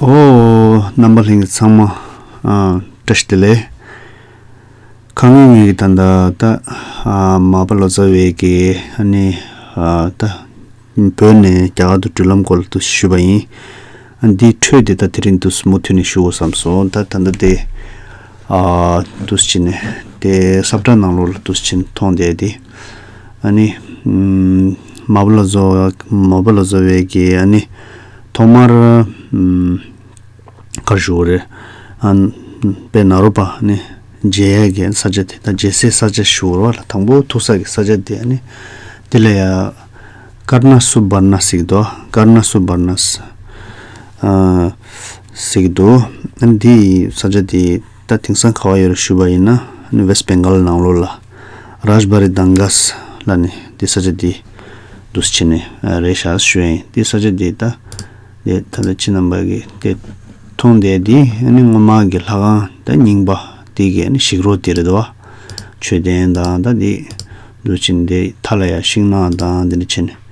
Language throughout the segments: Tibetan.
ཨོ། རྣམ་པ་ལྷན་གྱི་ཚང་མ། བཀྲ་ཤིས་བདེ་ལེགས། ཁ་ངོས་ངོས་ཀྱི་ད་ད་ལྟ། མ་པ་ལོ་ཙཱ་བས་ཀྱི་ཨ་ནི། ད། བོད་ནས་རྒྱ་གར་དུ་འགྲུལ་ལམ་སྐོར་ལ་ཏུ་ཞུས་པ་ཡིན། འདིའི་འཕྲོས་དེ་ད་དེ་རིང་དུ་སུ་མོ་ཐུག་ནས་ཞུ་འོ་བསམ་སོང་ད་ད་ད་དེ། འདུ་བྱེད་ནི། དེའི་སྲབ་ཁྲ་ནང་ལོགས་ལ་འདུ་བྱེད་མཐོང་བསྡད་དེ། ནི། མ་བུ་ལ་བཟོ། མ་བུ་ལ་བཟོ་བའི་གི། ནི། ཐོག་མར། གར་ཞུགས་རེ། པའི་ནཱ་རོ་པ། ནི། རྗེ་ཡབ་ཀྱི་ས་ཆ་དེ་དང་རྗེ་སའི་ས་ཆ་ཞུགས་རོ། དང་པོ་ཐུག་ས་ཀྱི་ས་ཆ་དེ། ནི། དེ་ལ་ཡ། ཀར་ན་སུ་བར་ན་སིག་ཏོ། ཀར་ན་སུ་བར་ན། ཟེར་གི་འདུག་འདི་ས་ཆ་དེ་ད་དེང་སང་ག་བ་ཡོད་རེད་ཞུས་པ་ཡིན་ན West Bengal ནང་ལོགས་ལ Rajbari Dangas ལ་ནི་འདི་ས་ཆ་དེ་འདུག་ས་ཆེ་ནི་རེད་ཤག་ཞུས་ཡིན་འདི་ས་ཆ་དེ་ད་དེ་ད་ལ་ཕྱི་ནང་བར་གི་དེ་མཐོང་བསྡད་དེ་སྔོན་མ་གི་ལྷ་ཁང་ད་རྙིང་པ་དེ་གི་ཞིག་རོ་དེ་རེད་བ་མཆོད་རྟེན་དང་ད་དེ་འདུག་ཕྱི་ནི་དེ་ཐ་ལ་ཡ་ཤིང་ནང་དང་དེ་འདྲ་ཕྱི་ནི།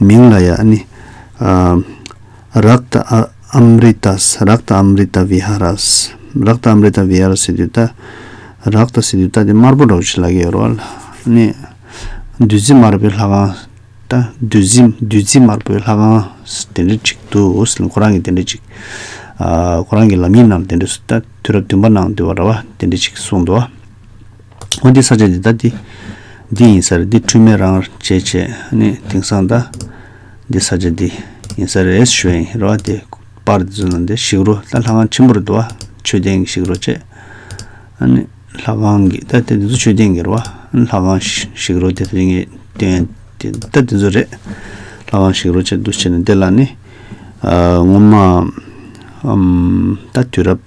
མིང་ལ་ཡ་ནི། རཀྟ་ཨམ་རི་ཏཱས། རཀྟ་ཨམ་རི་ཏཱ་བི་ཧ་རཱས། རཀྟ་ཨམ་རི་ཏཱ་བི་ཧ་རཱ་སི་དུ་ཏཱ། རཀྟ་སི་དུ་ཏཱ་དེ་དམར་པོ་འགྲོ་བ་ཆུ་ལག་གི་ཡོལ་བ་ལ་གནས། བདུད་རྩི་དམར་པོའི་ལྷ་ཁང། ཏཱ། བདུད་རྩི་བདུད་རྩི་དམར་པོའི་ལྷ་ཁང། དེ་འདྲ་གཅིག་འདུག་ཨོ་སི་ལན་ཁོ་རང་གི་དེ་འདྲ་གཅིག། ཁོ་རང་གི་ལམ་ཡིག་ནང་དེ་འདྲ། དུས་རབས་བདུན་པ་ནང་དུ་བ་ར་བ་དེ་འདྲ་གཅིག་གསུངས་འདུག། ཨོ་འདི་ས་ཆ་འདི་ད་འདི་འདི་ཡིན་ས་རེད་འདི་འཁྲུལ་མེད་རང་བྱས་བྱས་ནི་དེང་སང་ད་འདི་ས་ཆ་འདི་ཡིན་ས་རེད་ཞོའི་ཡིན་རོ་ཨ་དེ་པར་འདི་ཚོ་ན་འདི་ཞིག་རོ་ད་ལྷ་ཁང་ཆེན་པོ་རེད་འདུག་ཨ་མཆོད་རྟེན་གྱི་ཞིག་རོ་བྱས་ཨ་ནི་ལྷ་ཁང་གི་ད་དེ་འདི་ཚོ་མཆོད་རྟེན་གྱི་རོ་ཨ་ལྷ་ཁང་ཞིག་རོ་དེ་རིང་གི་སྟོན་དེ་ད་འདི་ཚོ་རེད་ལྷ་ཁང་ཞིག་རོ་བྱས་འདུག་བྱས་ནས་འདི་ལ་ནི་ངོ་མ་ཨམ་ད་དུས་རབས།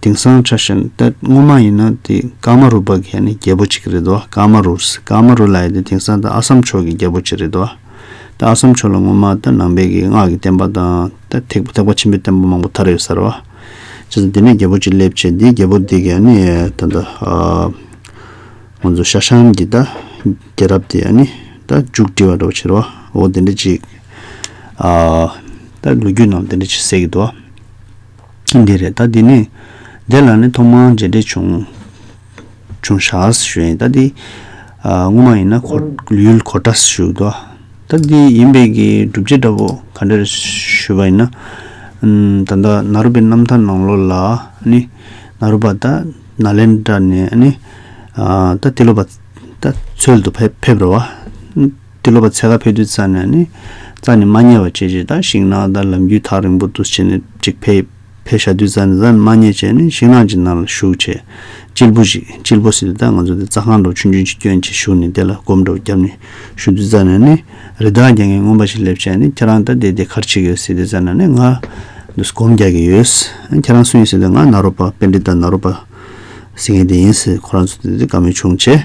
དེང་སང་ཆ་ཤན་ཏད་སྔོན་མ་ཡིན་ན་དེ་ཀརྨ་རུ་བ་གྷལ་ནི་རྒྱལ་པོ་གཅིག་རེད་དོ་ཀརྨ་རུ་རེད་ཀརྨ་རུ་ལ་ཡི་དེ་དེང་སང་ད་ཨ་སམ་ཕྱོགས་ཀྱི་རྒྱལ་པོ་གཅིག་རེད་དོ་ད་ཨ་སམ་ཕྱོགས་ལ་སྔོན་མ་ད་ནང་པའི་གི་སྔགས་ཀྱི་བསྟན་པ་དང་ད་ཐེག་པ་ཆེན་པོའི་བསྟན་པ་མང་པོ་དར་ཡོད་ས་རེད་བ། བྱས་ཙང་དེ་ནས་རྒྱལ་པོ་གཅིག་སླེབས་རྗེས་དེ་རྒྱལ་པོ་དེ་གི་ཨ་ནི་ད་ད་ང་ཚོ་ཤ་ཤམ་གྱི་ད་རྒྱལ་རབས་དེ་ཨ་ནི་ད་མཇུག་སྒྲིལ་བ་འདྲ་བོ་བྱས་རེད་བ་འོ་དེ་འདྲ་ཅིག་ཨ་ད་ལོ་རྒྱུས་ནང་དེ་འདྲ་ཅིག་གསལ་གི་འདུག་བ། ཁྱིམ་དེ་རེད་ད་དེ་ནས། དེ་ལ་ནི་ཐོག་མར་མཇལ་འཕྲད་བྱུང། བྱུང་ཞགས་སུ་ཞུས་ད་དེ། སྔོན་མ་ཡིན་ན་ཁོ་ཡུལ་གོ་ཏྲ་སུ་བཞུགས་ཏོ། ད་དེ་ཡིན་པས་ཀྱི་སྒྲུབ་བྱེད་འདྲ་པོ་ག་འདྲ་རེད་ཞུས་པ་ཡིན་ན། ད་ལྟ་ན་རུ་པའི་རྣམ་ཐར་ནང་ལོ་ལ་ནི། ན་རུ་པ་ད་ན་ལེན་དྲ་ནས་ནི། ད་དེ་ལོ་པ་ད་ཚོལ་དུ་ཕེབས་རོ། དེ་ལོ་པ་ཚེ་ག་ཕེབས་དུས་རྩྭ་ནི་ནི། རྩྭ་ནི་མ་རྙེད་བ་བྱེད་ཅེས་དང་ཤིང་ནགས་དང་ལམ་རྒྱུད་ཐག་རིང་པོ་འདུ་བྱེད་ནི་ཅིག་ཕེབས། ཕེབས་ཞག་དུས་རྩྭ་ནི་རྩྭ་ནི་མ་རྙེད་བྱས་ནི་ཤིང་ནགས་ཀྱི་ནང་ལ་ཞུགས་བྱས། གཅིལ་བུ་ཞིག་གཅིལ་བུ་ཟེར་དུས་ད་ང་ཚོ་དེ་རྩྭ་ཁང་འགྲོ་ཆུན་ཆུན་གྱི་སྐྱོན་གྱིས་ཞུགས་ནས་དེ་ལ་སྒོམ་སྒྲོག་བརྒྱབ་ནས་ཞུགས་དུས་རྩྭ་ནི་ནི། རི་དྭགས་རྒྱག་མཁན་རྔོན་པ་ཞིག་སླེབས་བྱས་ནི་ཁྱེད་རང་ད་ལྟའི་དེ་གར་ཆིག་ཡོད་ཟེར་དུས་རྩྭ་ནི་ནི་ང། འདུག་སྒོམ་རྒྱག་གི་ཡོད། ཁྱེད་རང་སུ་ཡིན་ཟེར་དུས་ང་ནཱ་རོ་པ་དཔེ་འདྲེ་དང་ནཱ་རོ་པ། ཟེར་མཁན་དེ་ཡིན་ཟེར་ཁོ་རང་ཚོ་དེ་དུས་དགའ་མོས་བྱུང་བྱས།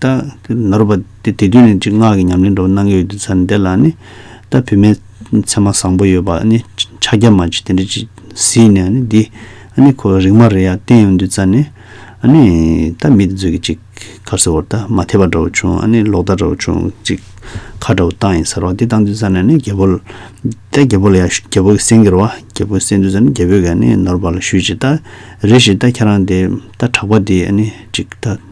ལྟ། ནོར་བ། དེ་དུས་ནས་ཅི་སྔགས་ཀྱི་ཉམས་ལེན་འགྲོ་བ་སྣང་གི་ཡོད་དུས་ཚར་ནས་དེ་ལ་ནི། ལྟ། བུད་མེད་མཚན་མ་བཟང་པོ་ཡོད་པ་ནི་ཕྱག་རྒྱ་མ་ཅིག་དེ་འདྲ་ཅིག་གཟིགས་ནས་ནི་འདི། ནི་ཁོ་བོའི་རིག་མ་རེད་ཡ་བསྟན་ཡོང་དུས་ཚར་ནས། ནི། ལྟ། མི་དེ་ཚོས་ཀྱིས་ཅིག། ཁར་གསོལ་བར་ལྟ། མ་འཐད་པ་འདྲ་བོ་བྱུང། ནི་ལོག་ལྟ་འདྲ་བོ་བྱུང། ཅིག། ཁ་འདྲ་བོ་བཏང་ཡིན་ཟེར་བ་འདི་བཏང་དུས་ཚར་ནས་ནི་རྒྱལ་པོ། ལྟ། རྒྱལ་པོ་ལ་ཡང་ཞུས་རྒྱལ་པོ་གྱིས་གསན་ཁྱེར་བ། རྒྱལ་པོས་གསན་དུས་ཚར་ནས་རྒྱལ་པོས་ཀྱང་ནི་ནོར་བ་ལ་ཞུས་ཅིག་ལྟ། རེ་ཞིག་ལྟ་ཁྱེད་རང་དེ། ལྟ། གྲགས་པ་དེ། ནི། ཅིག། ལྟ།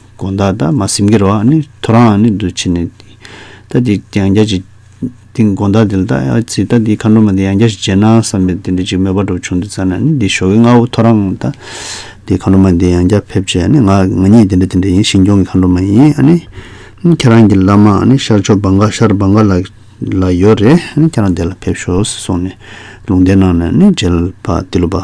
དགོངས་དག་དང་མ་སེམས་ཀྱི་རོ་ཨ་ནི་ཐོ་རངས་ཨ་ནི་འདུ་བྱེད་ནི། རྟ་འདི་ཡང་བརྒྱ་བྱིན། དེ་དགོངས་དག་དེ་ལ་རྟ་ཨ་ཙི་རྟ་འདིའི་མཁའ་འགྲོ་མ་དེ་ཡང་བརྒྱ་བྱིན་བྱས་ན་བསམས་པས་དེ་འདྲའི་ཅིག་མོས་པ་གྲོགས་བྱུང་དེ་བཙལ་ན་ནི་འདི་ཞོ་གའི་རྔ་བོ་ཐོ་རངས་རྟ་འདིའི་མཁའ་འགྲོ་མ་དེ་ཡང་བརྒྱ་ཕེབས་བྱས་ཨ་ནི་ང་ང་ཉིད་དེ་འདྲ་དེ་འདྲ་ཡིན་ཞིང་སྐྱོང་གི་མཁའ་འགྲོ་མ་ཡིན་ཨ་ནི། ཁྱེད་རང་གི་བླ་མ་ཨ་ནི་ཤར་ཕྱོགས་འབངས་དགའ་ཤར་འབངས་དགའ་ལ་ལ་ཡོད་རེད་ཨ་ནི་ཁྱེད་རང་དེ་ལ་ཕེབས་ཤོག་ཟེར་སོང་ནས་ལུང་བསྟན་གནང་ནས་ཨ་ནི་མཇལ་བ་དེ་ལོ་པ།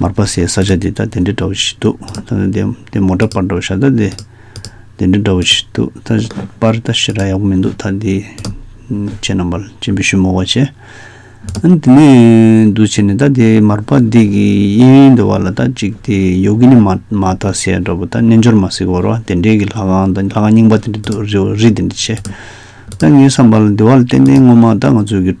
མར་པ་སའི་ས་ཆ་འདི་ད་དེ་འདྲའི་འདྲ་བོ་ཞིག་འདུག་ད་ནི་འདི་འདི་མོ་འདྲ་པར་འདྲ་བོ་ཤ་ད་འདི་འདི་འདྲའི་འདྲ་བོ་ཞིག་འདུག་ད་པར་ད་ཤི་ར་ཡག་པོ་མི་འདུག་ད་འདི་ཁྱེད་རྣམ་པར་སྤྱན་འབུལ་ཞུ་མོ་བ་བྱེད། ཨན་དེ་ནས་འདུག་བྱས་ནས་ད་དེ་མར་པ་འདི་གི་གཡས་འདི་བ་ལ་ད་ཅིག་དེ་ཡོ་གི་ནི་མ་མ་ད་སའི་འདྲ་བོ་ད་རྣལ་འབྱོར་མ་སའི་བར་བ་དེ་འདྲའི་གི་ལྷ་ཁང་ད་ལྷ་ཁང་རྙིང་པ་དེ་འདྲའི་འདུག་རི་བོ་རི་དེ་འདྲའི་ཆེ། ད་ངས་བསམ་པ་ལ་འདི་བ་ལ་ཏན་ཏན་སྔོན་མ་ད་ང་ཚོའི་གི།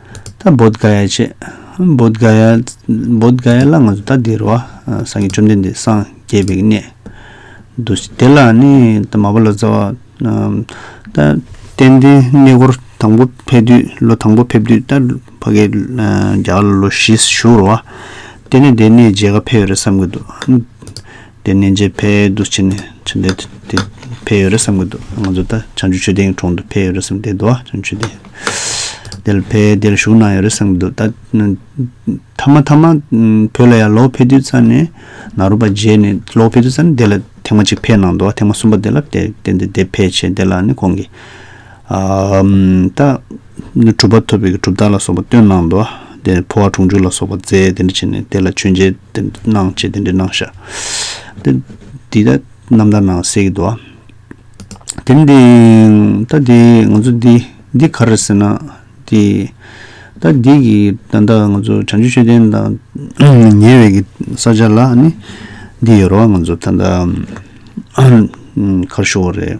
ད་བོད་དགའ་ཡ་བྱེད། བོད་དགའ་ཡ། བོད་དགའ་ཡ་ལ་ང་ཚོ་ད་འདི་རུ་བ་སངས་རྒྱས་བཅོམ་ལྡན་འདས་སངས་རྒྱས་པའི་གནས། འདུ་ཤེས་དེ་ལ་ནི་ད་མ་བ་ལོ་ཙཱ་བ། ད་གཏན་གཏན་གནས་སྐོར་དང་པོ་ཕེབས་དུས་ལོ་དང་པོ་ཕེབས་དུས་ད་ཕ་གི་རྒྱ་གར་ལ་ལོ་བཞི་བཞུགས་རུ་བ། དེ་ནས་དེ་གནས་རྗེས་ཁ་ཕེབས་རེད་བསམ་གྱི་འདུག། དེ་ནས་རྗེ་ཕལ་དུ་ཕྱིན་ནས་ཕྱིན་ཏེ། དེ་ཕལ་ཡོད་རེད་བསམ་གྱི་འདུག་ང་ཚོ་ད་བྱང་ཆུ་ཆོས་སྡེ་ཡི་གྲོང་དུ་ཕལ་ཡོད་རེད་བསམ་སྟེ་འདུག་ཨ་བྱང་ཆུ་སྡེ་དེར་ཕལ་དེར་བཞུགས་གནང་ཡོད་རེད་བསམ་གྱི་འདུག་ད་ཐ་མ་ཐ་མ་བོད་ལ་ཡར་ལོག་ཕེབས་དུས་རྩ་ནས་ནཱ་རོ་པ་མཇལ་ནས་ལོག་ཕེབས་དུས་རྩ་ནས་དེ་ལ་ཐེངས་མ་གཅིག་ཕེབས་གནང་འདུག་ཐེངས་མ་གསུམ་པ་དེ་ལ་བསྟན་ཏེ་དེ་ཕལ་ཆེར་དེ་ལ་ནི་གོང་གི་ད། གྲུབ་པ་ཐོབ་པའི་གྲུབ་རྟགས་ལ་སོགས་པ་སྟོན་གནང་དོ། དེ་ནས་འཕོ་བ་གྲོང་འཇུག་ལ་སོགས་པ་རྫས་དེ་འདྲ་བྱིན་ནས་དེ་ལ་མཆོད་མཇལ་དེ་འདྲ་གནང་ཅེས་དེ་འདྲ་གནང་བཞག། འདི་ལྟར་རྣམ་ཐར་ནང་གསལ་གྱི་འདུག། དེ་ནས་དེ་ད་དེ་ང་ཚོ་འདི་འདི་ག་རེད་ཟེར་ན། དེ་ད་འདི་གི་ད་ལྟ་ང་ཚོ་བྱང་ཆུབ་ཆོས་ལྡན་དང་ཉེ་བའི་གི་ས་ཆ་ལ་ནི་འདི་ཡོད་རོགས་ང་ཚོ་ད་ལྟ་གར་ཞུགས་བ་རེད།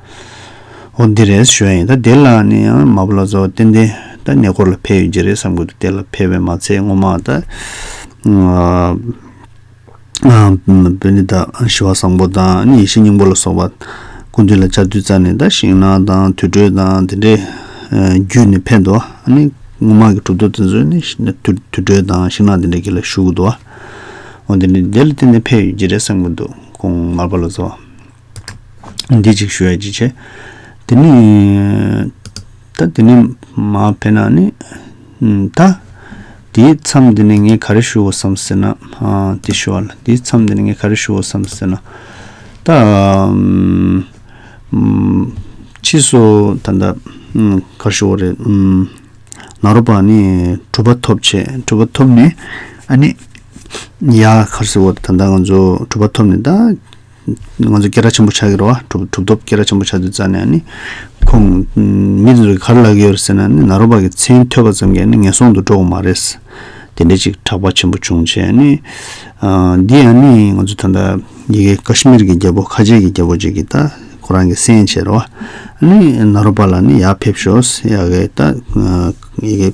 ཨོ་འདི་རེད་ཞོ་ཡིན་ད་དེ་ལ་ནི་ཡང་མ་བུ་ལ་ཛོ་ཏན་ཏན་ད་ཉེ་འཁོར་ལ་ཕེ་ཡོད་རྒྱུ་རེད་བསམ་གི་འདུག་དེ་ལ་ཕེ་བས་མ་ཚད་སྔོན་མ་ད་བོད་ནི་ད་ཞི་བ་བཟང་པོ་དང་ནི་ཡེ་ཤེས་སྙིང་པོ་ལ་སོགས་པ་ཀུན་འདུས་ལ་བཅའ་བསྡུས་རྩ་ནི་ད་ཞིང་ནང་དང་དུད་འགྲོའི་དང་དེ་འདྲའི་རྒྱུད་ནི་ཕེ་འདུག་ནི་སྔོན་མ་གི་གྲུབ་ཐོབ་དེ་ཚོས་ནི་དུད་འགྲོའི་དང་ཞིང་ནང་དེ་འདྲ་གི་ལ་ཞུགས་གི་འདུག་ཨོ་འདི་ནི་དེ་ལ་བརྟེན་ནས་ཕེ་ཡོད་རྒྱུ་རེད་བསམ་གི་འདུག་གོང་མར་བ་ལ་ཛོ། འདི་གཅིག་ཞུ་ཡ་ཅིག་བྱེད། དེ་ནི། ད་དེ་ནི་མ་བེད་ན་ནི། ད། དེའི་མཚམས་འདི་ནས་ངས་ག་རེ་ཞུ་འོ་བསམ་ཟེར་ན། དེ་ཞུ་བ་ལ་དེའི་མཚམས་འདི་ནས་ངས་ག་རེ་ཞུ་འོ་བསམ་ཟེར་ན། ད། ཕྱིས་སུ་ད་ལྟ། ག་རེ་ཞུ་འོ་རེད། ནཱ་རོ་པ་ནི་གྲུབ་པ་ཐོབ་བྱས་གྲུབ་པ་ཐོབ་ནས། ཨ་ནི། ཡ། ག་རེ་ཟེར་འོ་ད་ལྟ་ང་ཚོ་གྲུབ་པ་ཐོབ་ནས་ད། ང་ཚོ་སྐད་སྒྲ་ཆེན་པོ་ཆགས་ཀྱི་རེད་བ། གྲུབ་ཐོབ་སྐད་སྒྲ་ཆེན་པོ་ཆགས་དུས་རྩ་ནས་ནི། ཁོང། མི་དེ་ཚོ་གར་ལག་གི་ཡོད་ཟེར་ན་ནི་ནཱ་རོ་པ་གི་མཚན་ཐོས་པ་ཙམ་གྱིས་ནི་ངན་སོང་དུ་འགྲོ་བ་མ་རེད། དེ་འདྲའི་ཅིག་གྲགས་པ་ཆེན་པོ་བྱུང་རྗེས་ནི། འདི་ཡང་ནི་ང་ཚོ་ད་ལྟ་ཡི་གེ་ཀ་ཤི་མིར་གྱི་རྒྱལ་པོ་ཁ་ཆེ་གི་རྒྱལ་པོ་ཅིག་གིས་ད་ཁོ་རང་གི་སེམས་ཆེད་རེད་བ། ནི་ནཱ་རོ་པ་ལ་ནི་ཡར་ཕེབས་ཤོག་ཡ་གི་ད་ཡི་གེ།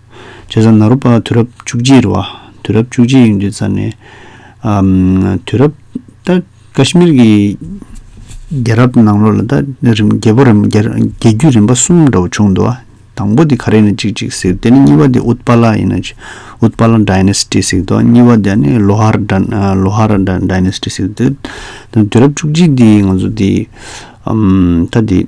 ཆོས་བཟང་ནཱ་རོ་པ་དུས་རབས་བཅུ་གཅིག་རེད་བ། དུས་རབས་བཅུ་གཅིག་ཡིན་དུས་ཙར་ནས། དུས་རབས་ད་ཀཱ་ཤི་མིར་གྱི་རྒྱལ་རབས་ནང་ལོགས་ལ་ད་རིམ་རྒྱལ་པོ་རིམ་རྒྱལ་རྒྱུད་རིམ་པ་གསུམ་འདྲ་བོ་བྱུང་འདུག་བ། དང་པོ་དེ་ག་རེ་ནི་གཅིག་གཅིག་ཟེར་དེ་ནི་གཉིས་པ་དེ་ཨུཏ་པ་ལ་ཡིན་ན། ཨུཏ་པ་ལ Dynasty ཟེར་འདུག་བ་གཉིས་པ་དེ་ནི་ལོ་ཧར་ལོ་ཧར Dynasty ཟེར་འདུག་དུས་རབས་བཅུ་གཅིག་དེ་ང་ཚོ་དེ། ད་དེ།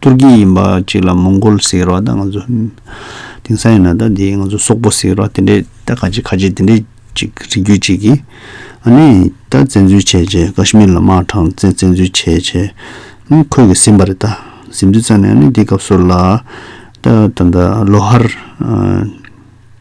ཏུར་ཀི་ཡིན་པ་ཅིག་ལ་མོང་གོལ་ཟེར་བ་དང་ང་ཚོ་དེང་སང་ཡིན་ན་ད་དེ་ང་ཚོ་སོག་པོ་ཟེར་བ་དེ་འདྲས་ད་ཁ་ཆེ་ཁ་ཆེ་དེ་འདྲས་ཅིག་རིགས་རྒྱུད་ཅིག་གིས་ཨ་ནེ་ད་བཙན་འཛུལ་བྱས་བྱས་ཀ་ཤི་མིར་ལ་དམག་དྲངས་ཚེ་བཙན་འཛུལ་བྱས་བྱས་ནས་ཁོད་ཀྱི་ཟིན་པ་རེད་ད་ཟིན་དུས་ཙང་ནས་ཨ་ནེ་དེའི་སྐབས་སུ་ལ་ད་ད་ལོ་ཧར།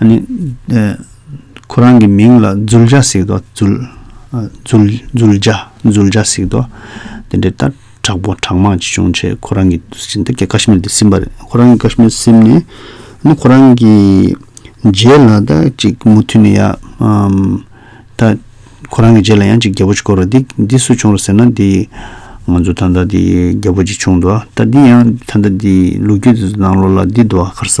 ཨ་ནི། ཁོ་རང་གི་མིང་ལ་རྫུལ་བྱ་ཟིག་ཏོ། རྫུལ། རྫུལ། རྫུལ་བྱ། རྫུལ་བྱ་ཟིག་ཏོ། དེ་འདྲའི་སྟར་དྲག་པོ་དྲག་དམག་ཅིག་བྱུང་ཆེད་ཁོ་རང་གི་ཟིན་ཏེ་ཀ་ཤི་མིར་དེ་བསིམས་པ་རེད། ཁོ་རང་གི་ཀ་ཤི་མིར་བསིམས་ནས། ཨ་ནི་ཁོ་རང་གི་རྗེས་ལ་ད་ཅིག་མུ་མཐུད་ནས་ཡ། ད། ཁོ་རང་གི་རྗེས་ལ་ཡང་ཅིག་རྒྱལ་པོ་ཅིག་བསྐོར་རོ། འདི། འདི་སུ་བྱུང་ར་ཟེར་ན་འདི། ང་ཚོ་ད་ལྟ་འདི་རྒྱལ་པོ་ཅིག་བྱུང་འདུག་ད་འདི་ཡང་ད་ལྟ་འདི་ལུག་རྒྱུད་དེ་ཚོ་ནང་ལོགས་ལ་འདི་འདུག་ཨ་ཁར་ཟ།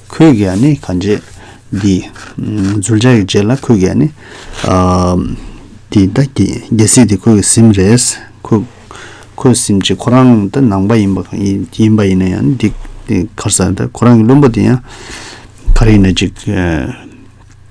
ཁོས་རྒས་ཡ་ནི་གང་བྱེད། འདི། འཛུལ་བྱ་ཡི་རྗེས་ལ་ཁོས་རྒས་ཡ་ནི། འདི་ད་གྱིས་རྒྱལ་སྲིད་དེ་ཁོས་ཀྱི་སེམས་རེད། ཁོས། ཁོས་སེམས་ཀྱི་ཁོ་རང་ད་ནང་པ་ཡིན་པ་ཡིན་པ་ཡིན་ན་ཡང་འདི། གར་ས་ད་ཁོ་རང་གི་བློན་པོ་དེ་ཡང། གར་ཡིན་ན་ཅིག།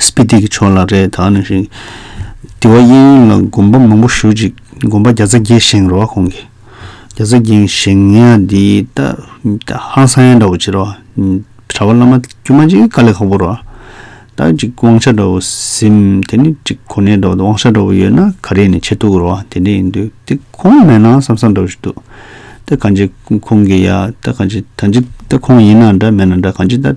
སྤི་ཏི་གི་ཕྱོགས་ལ་རེད་ད་ནི་ཞིག། དི་བ་གཡས་གཡོན་ལ་དགོན་པ་མང་པོ་ཞུ་ཅིག་དགོན་པ་བརྒྱ་རྩ་བརྒྱད་བཞེངས་རོགས་ཁོང་གི། བརྒྱ་རྩ་བརྒྱད་བཞེངས་ཡ་དི་ད་ཧང་སང་ཡ་འདྲ་བོ་བྱེད་རོགས། གྲ་བ་བླ་མ་དཀྱུས་མ་ཅིག་དཀའ་ལས་ཁག་པོ་རོགས། ད་ཅིག་དབང་ཆ་འདྲ་བོ་ཟིན་དེ་ནི་ཅིག་གོ་གནས་འདྲ་བོ་དབང་ཆ་འདྲ་བོ་ཡོད་ན་ག་རེ་ནས་བྱེད་ཐུག་རོགས་དེ་འདྲ་ཡིན་དུས་དེ་ཁོང་མེད་ན་བསམ་བསམ་འདྲ་བོ་ཞིག་འདུག་ད་གང་ཅི་ཁོང་གི་ཡ་ད་གང་ཅི་ད་ཅི་ད་ཁོང་ཡིན་ན་འདྲ་མེད་ན་འདྲ་གང་ཅི་ད།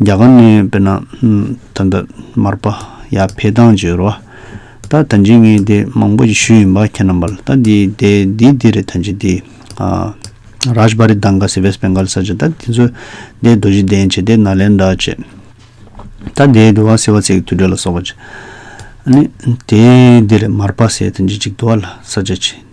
རྒྱ་གར་ནས་དཔེར་ན། ད་ལྟ་མར་པ་ཡ་ཕེ་དང་བཅོས་རོ། ད་ད་འཇིགས་ངེས་དེ་མང་པོ་ཞིག་ཞུས་ཡིན་པ་ཁྱེད་རྣམ་པར་ད་དེའི་དེ་དེའི་དེ་རེད་ད་འཇིགས་དེ། རཱཇ་བྷ་རི་དང་ག་སི་བེས་བེང་གཱལ་ས་ཆ་ད་དེ་ཚོ་དེ་རྡོ་རྗེ་གདན་བྱེ་དེ་ནཱ་ལེནྡྲ་བཅས། ད་དེའི་དུ་བ་སེ་བ་ཚེ་གི་དུས་དྲོད་ལ་སོགས་པ་བཅས། ནི་དེའི་དེ་རེད་མར་པ་སེ་ད་འཇིགས་འཇིགས་དུ་བ་ལ་ས་ཆ་བྱེ།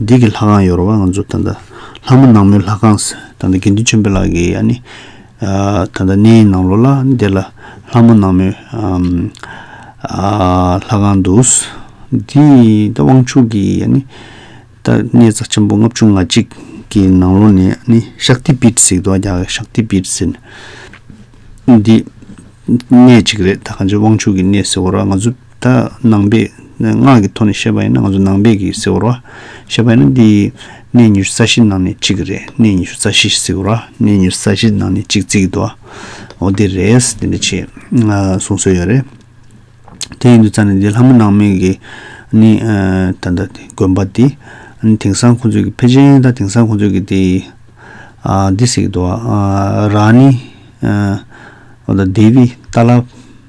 འདི་གི་ལྷ་ཁང་ཡོར་བ་ང་ཚོ་ད་ལྟ་ལྷ་མོ་ནག་མོའི་ལྷ་ཁང་ཟེར་ད་ལྟ་དགེ་འདུན་ཆེན་པོ་ལགས་ཀྱི་ཡ་ནི་ད་ལྟ་གནས་ཡིག་ནང་ལོ་ལ་འདི་ལ་ལྷ་མོ་ནག་མོའི་ལྷ་ཁང་འདུག་འདི་ད་དབང་ཕྱུག་གི་ཡ་ནི་ད་གནས་རྩ་ཆེན་པོ་ལྔ་བཅུ་ང་གཅིག་གི་ནང་ལོ་ནས་ནི་ཤག་ཏི་པིར་ཟིག་དོ་རྒྱ་གར་ཤག་ཏི་པིར་ཟེར་འདི་གནས་གཅིག་རེད་ད་ག་འཇེ་དབང་ཕྱུག་གི་གནས་ཟེར་བ་ར་ང་ཚོ། ད་ནང་པས་ངག་གི་ཐོག་ནས་བཤད་པ་ཡིན་ན་ང་ཚོ་ནང་པས་ཀྱིས་ཟེར་བ་རོ། བཤད་པ་ཡིན་ན་འདི་གནས་ཉི་ཤུ་རྩ་བཞི་ནང་ནས་གཅིག་རེད་གནས་ཉི་ཤུ་རྩ་བཞི་ཟེར་བ་རོ་གནས་ཉི་ཤུ་རྩ་བཞི་ནང་ནས་གཅིག་རྩིས་ཀྱི་འདུག་ཨ། འོ་དེ་རེད་དེ་འདྲ་བྱས་གསུངས་སྲོལ་ཡོད་རེད། དེ་ཡིན་དུས་རྩ་ནས་འདི་ལྷ་མོ་ནང་མི་གི་ནི་ད་ལྟ་དགོན་པ་འདི་དེང་སང་ཁོང་ཚོས་ཀྱི་ཕལ་ཆེན་དང་དེང་སང་ཁོང་ཚོས་ཀྱི་དེ་འདི་ཟེར་གྱི་འདུག་ཨ་རང་ནི་ཨ་ད་དེ་བི་ཏཱ་ལ།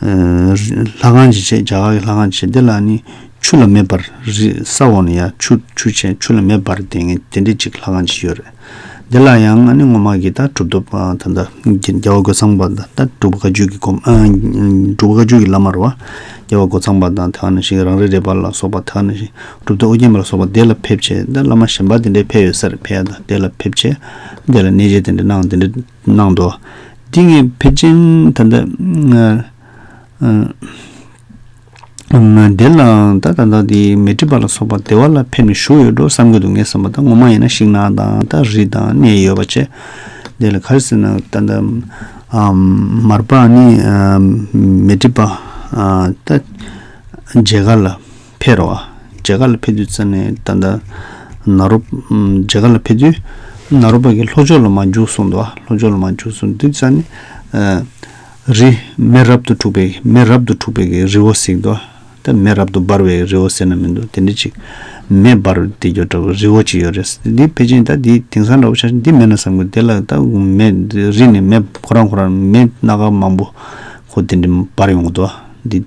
ལྷ་ཁང་བྱེད་ཆས་རྒྱ་གར་གྱི་ལྷ་ཁང་བྱེད་དེ་ལ་ནི་ཆུ་ལ་མེ་འབར། རི་ས་འོག་ནས་ཡང་ཆུ་ཆུ་བྱས་ཆུ་ལ་མེ་འབར་དེ་ངས་དེ་འདྲའི་ཅིག་ལྷ་ཁང་བྱས་ཡོད་རེད། དེ་ལ་ཡང་ཨ་ནེ་སྔོན་མ་གི་ད་གྲུབ་ཐོབ་ད་ལྟ་རྒྱལ་བ་སྒོ་ཚང་པ་ད་ལྟ་གྲུབ་བཀའ་བརྒྱུད་ཀྱི་སྒོ་གྲུབ་བཀའ་བརྒྱུད་ཀྱི་བླ་མར་བ་རྒྱལ་བ་སྒོ་ཚང་པ་དང་དེ་བ་ན་ཞིག་རང་རེ་རེད་པ་ལ་སོགས་པ་དེ་བ་ན་ཞིག་གྲུབ་མཐའ་ཨོ་རྒྱན་པ་ལ་སོགས་པ་དེ་ལ་ཕེབས་བྱས་ད་བླ་མ་གཞན་པ་དེ་འདྲའི་ཕེབས་ཡོད་སར་ཕེབས་ད་དེ་ལ་ཕེབས་བྱས་དེ་ལ་གནས་བྱས་དེ་འདྲ་གནང་དེ་འདྲ། གནང་འདུག་འདི་ངས་ཕལ་ཆེན་ད་ལྟ། དེ་ལའང་ད་ད་ལྟ་དེ་མེ་ཏྲི་པ་ལ་སོགས་པ་སྡེ་བ་ལ་ཕེབས་ནས་བཞུགས་ཡོད་འགྲོ་བསམ་གྱི་འདུག་ངས་བསམ་པ་ད་ངོ་མ་ཡིན་ན་ཤིག་ན་དང་ད་རི་དང་གནས་ཡོད་པ་ཆེ། དེ་ལ་ག་རེ་ཟེར་ན་ད་ལྟ། མར་པ་ནི་མེ་ཏྲི་པ། ད། མཇལ་ཁ་ལ། ཕེར་རོ། རྗེ་ག་ལ་ཕེ་དུས་ཙཱ་ནི་ད་ད། ན་རོ། རྗེ་ག་ལ་ཕེ་དུས། ན་རོ་པ་གི་ལྷོ་ཕྱོགས་ལ་མ་འཇུག་གསུངས་ཏོ། ལྷོ་ཕྱོགས་ལ་མ་འཇུག་གསུངས་དུས་ཙཱ་ནི། རི། མེ་རབ་ཏུ་འཁྲུགས་པའི་གི་མེ་རབ་ཏུ་འཁྲུགས་པའི་གི་རི་བོ་གཟིགས་ཏོ། ད་མེ་རབ་ཏུ་འབར་བའི་རི་བོ་ཟེར་ན་མི་འདུག་དེ་འདྲ་ཅིག། མེ་འབར་བའི་དེ་འགྱོགས་འདྲ་བའི་རི་བོ་ཅིག་ཡོད་རེད། འདི་ཕེ་ཅིང་ད་འདི་དེང་སང་འདྲ་བོ་ཆགས་ཤིང་འདི་མེད་ན་བསམ་དགོས་དེ་ལ་ད་མེ། རི་ནི་མེ་ཁོ་རང་ཁོ་རང་མེ་སྣ་ཁ་མང་པོ། ཁོ་དེ་འདྲ་འབར་ཡོང་གི་འདུག་འདི།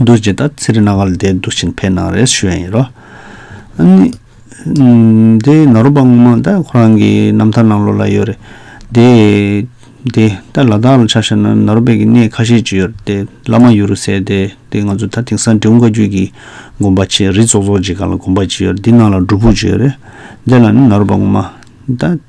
རྡོ་རྗེ་དང་ཚེ་རིང་ནག་ག་ལ་དེ་འདུག་བཞིན་ཕའི་ནང་རེད་ཞུ་ཡ་ཡིན་རོ། དེ་ནོར་བུ་པ་སྔོན་མ་ད་ཁོ་རང་གི་རྣམ་ཐར་ནང་ལོ་ལ་ཡོད་རེད་དེ། དེ་ད་ལ་དྭགས་ལ་ཆ་བཞག་ན་ནོར་བུ་པས་ཀྱི་གནས་ཁ་ཤས་ཅིག་ཡོད་རེད་དེ་བླ་མ་ཡུ་རུ་ཟེར་དེ་དེ་ང་ཚོ་ད་དེང་སང་འབྲས་བུ་མཁའ་རྒྱུད་ཀྱི་དགོན་པ་ཆེ་རི་ཙོག་ཙོག་ཅིག་ག་ལ་དགོན་པ་ཅིག་ཡོད་རེད་དེ་ནང་ལ་སྒྲུབ་ཕུག་ཅིག་ཡོད་རེད་དེ་ལ་ནི་ནོར་བུ་པ་སྔོན་མ་ད།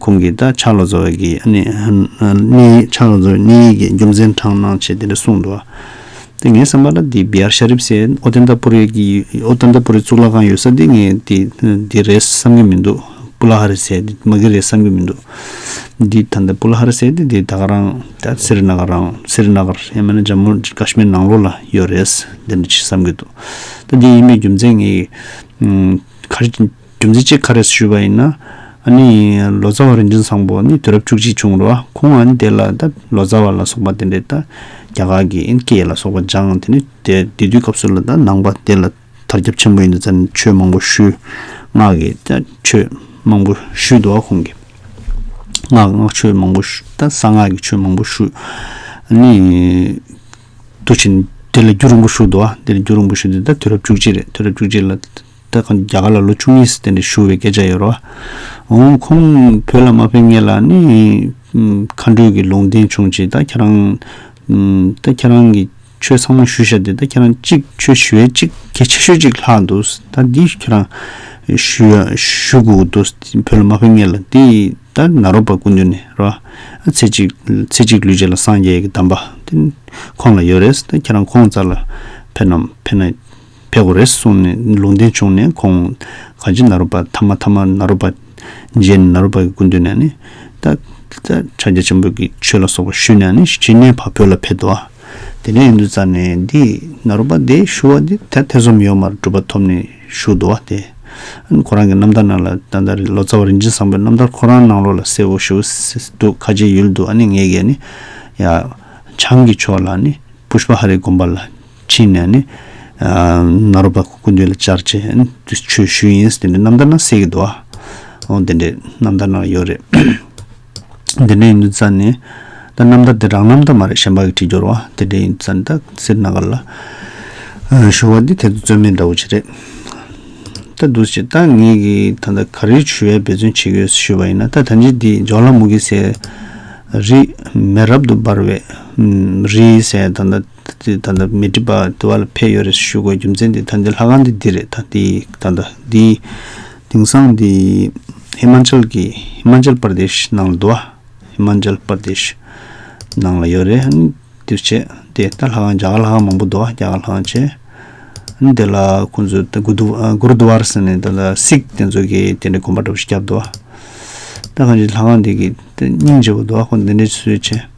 ཁོང་གིས་ད་ཆ་ལོ་ཙཱ་བ་ཀི་ནི་ནི་ཆ་ལོ་ཙཱ་བའི་གནས་ཡིག་གི་རྒྱུ་མཚན་དྲངས་གནང་བྱས་དེ་འདྲ་གསུངས་འདུག་དེ་ངའི་བསམ་པར་ན་དེ་བི་ཡར་ཤ་རིབ་སེ་ཨོ་ཏན་ཏཱ་པུ་རི་གི་ཨོ་ཏན་ཏཱ་པུ་རི་གཙུག་ལག་ཁང་ཡོད་ས་དེ་ངས་དེ་དེ་རེད་བསམ་གྱི་མི་འདུག་པུ་ལ་ཧ་རི་སེ་དེ་མ་གི་རེད་བསམ་གྱི་མི་འདུག་འདི་ད་ལྟ་པུ་ལ་ཧ་རི་སེ་དེ་དེ་ད་ག་རང་སེརི་ན་ག་རང་སེརི་ན་ག་ཡང་མིན་ན་ཇམ་མུ་ཀ་ཤི་མིར་ནང་ལོགས་ལ་ཡོད་རེད་དེ་འདྲ་བྱས་བསམ་གྱི་འདུག་ད་དེ་ཡིན་པའི་རྒྱུ་མཚན་ངས་ག་རེ་སྒྲུབ་རྫས་གཅིག་ཁ་རས་སུ་བཞུགས་པ་ཡིན། ཨ་ནི། ལོ་ཙཱ་བ་རིན་ཆེན་བཟང་པོ་ནི་དུས་རབས་བཅུ་གཅིག་བྱུང་རུང་ཁོང་ཨ་ནི་དེ་ལ་ད་ལོ་ཙཱ་བ་ལ་སོགས་པ་དེ་འདྲའི་ད་རྒྱ་གར་གྱི་ཨིན་སྐད་ལ་སོགས་པ་སྦྱངས་དེ་ནི་དེ་དུས་སྐབས་སུ་ལ་ད་ནང་པ་དེ་ལ་དར་ཁྱབ་ཆེན་པོ་ཡོད་འདུག་ཙཱ་ནི་ཆོས་མང་པོ་ཞུས། སྔགས་ཀྱི་ད་ཆོས་མང་པོ་ཞུས་འདུག་ཁོང་གིས། སྔགས་སྔགས་ཆོས་མང་པོ་ཞུས་ད་གསང་སྔགས་ཀྱི་ཆོས་མང་པོ་ཞུས། ཨ་ནི། དུས་ཆེན་དེ་ལ་རྒྱུ་རིང་པོ་ཞུས་འདུག་དེ་ལ་རྒྱུ་རིང་པོ་ཞུས་དེ་ད་དུས་རབས་བཅུ་གཅིག་རེད་དུས་རབས་བཅུ་གཅིག་ལ། ལྟ་གོན་རྒྱ་གར་ལ་ལོ་བཅུ་གཉིས་སྟེང་དུ་ཞུ་བའི་སྐད་ཆ་ཡོད་རོགས། འོང་ཁོང་བོད་ལ་མ་ཕེབས་ངེས་ལ་ནི་མཁའ་འགྲོས་ཀྱི་ལུང་བསྟན་བྱུང་ཅིག་ད་ཁྱེད་རང། ད་ཁྱེད་རང་གི་ཆོས་ཚང་མ་ཞུ་ཤ་དེ་ད་ཁྱེད་རང་གཅིག་ཆོས་ཞུ་ཡས་གཅིག་གལ་ཆེ་ཤོས་གཅིག་ལྷག་འདུག་ད་འདི་ཁྱེད་རང་ཞུ་ཡ་ཞུ་དགོས་འདུག་བོད་ལ་མ་ཕེབས་ངེས་ལ་འདི་ད་ན་རོ་པ་ཀུན་འདུས་ནས་རོགས། ཚེ་གཅིག་ཚེ་གཅིག་ལུས་བྱས་ལ་སངས་རྒྱས་ཀྱི་གདམས་པ་དེ་ཁོང་ལ་ཡོད་རེད་ད་ཁྱེད་རང་ཁོང་རྩ་ལ་ཕེབས་ན་ཕེབས་ན། ཕས་གོ་རེ་གསུངས་ནས་ལུང་བསྟན་བྱུང་ནས་ཁོང། གང་ཅི་ན་རོ་པ་ཐ་མ་ཐ་མ་ན་རོ་པ། རྗེས་ནས་ན་རོ་པ་གི་སྐུ་མདུན་ནས་ནི། ཏདྱ། ཕྱག་རྒྱ་ཆེན་པོ་གི་ཆོས་ལ་སོགས་པ་བཞུས་ནས་ནི་ཕྱི་ནས་བ་བོད་ལ་ཕེབས་ཏོ། དེ་ནས་ཡོན་དུ་བཙའ་ནས་འདི། ན་རོ་པ་དེ་བཞུ་བ་དེ་དར་ཐེ་ཟོམ་ཡོད་མར་གྲུབ་པ་ཐོབ་ནས་བཞུགས་ཏོ། དེ། ཁོ་རང་གི་རྣམ་ཐར་ནང་ལ་ད་ལྟ་ལོ་ཙཱ་བ་རིན་ཆེན་བཟང་པོའི་རྣམ་ཐར་ཁོ་རང་ནང་ལོག་ལ་གསལ་བོ་ཞུ་འདུག་ཁ་ཆེའི་ཡུལ་དུ་ཨ་ནེ་ངེད་གས་ནི། ཡ། བྱང་གི་ཕྱོགས་ལ་ནི། པུཤཔ་ཧ་རའི་དགོན་པ་ལ། ཕྱིན་ནས་ནི། ནཱ་རོ་པ་ཀུན་འདུས་ལ་བཅར་ཅེས་དུས་ཆོས་ཞུས་ཡིན། དེ་འདྲའི་རྣམ་ཐར་ན་གསེར་གྱི་རྡོ། ཨོ་དེ་འདྲའི་རྣམ་ཐར་ནང་ཡོད་རེད། དེ་འདྲ་ཡིན་དུས་ཙཱ་ནི། ད་རྣམ་ཐར་དེ་རང་རྣམ་ཐར་མ་རེད་གཞན་པ་གི་བྲིས་སྦྱོར་བ། དེ་འདྲ་ཡིན་དུས་ཙཱ་ནི་ད་གསེར་ནཱ་ག་ལ། ཞུ་བ་འདི་ཐད་དུ་རྩོད་མེད་འདྲ་བོ་ཅི་རེད། ད་འདུག་ཅེས་ད་ངེད་ཀྱི་ད་ལྟ་ག་རེའི་ཆོས་འབད་བརྩོན་བྱེད་དགོས་ཞུས་པ་ཡིན་ན་ད་ད་ལྗིད་འདི་ཇོ་ལ་མུ་གེ་སའི། རིས་མེད་རབ་ཏུ་འབར་བའི། རིའི་སའི་ད་ད། དེ་ད་ལྟ་མི་སྒྲིབ་པ་དེ་བ་ལ་ཕེབས་ཡོད་རེད་ཞུ་དགོས་རྒྱུ་མཚན་དེ་ད་འདི་ལྷ་ཁང་འདི་འདི་རེད་ད་འདི་ད་ད་འདི་དེང་སང་འདི་ཧི་མཱ་ཅལ་གྱི་ཧི་མཱ་ཅལ་པར་དེཤ་ནང་ལ་འདུག་ཨ་ཧི་མཱ་ཅལ་པར་དེཤ་ནང་ལ་ཡོད་རེད་འདིར་བྱས་དེ་ད་ལྷ་ཁང་རྒྱ་གར་ལྷ་ཁང་མང་པོ་འདུག་ཨ་རྒྱ་གར་ལྷ་ཁང་བྱས་འདི་ལ་ཁོང་ཚོས་ད་གུ་དུ་གུར་དུ་བར་ཟེར་ནས་ད་ལ་སིག་དེ་ཚོ་གི་དེ་འདྲའི་གོམ་པ་འདྲ་པོ་ཞིག་བརྒྱབ་འདུག་ཨ་ད་གང་ཅིའི་ལྷ་ཁང་འདི་གི་སྙིང་རྗེ་བོ་འདུག་ཨ་ཁོང་འདི་འདྲའི་ཚུལ་བྱས།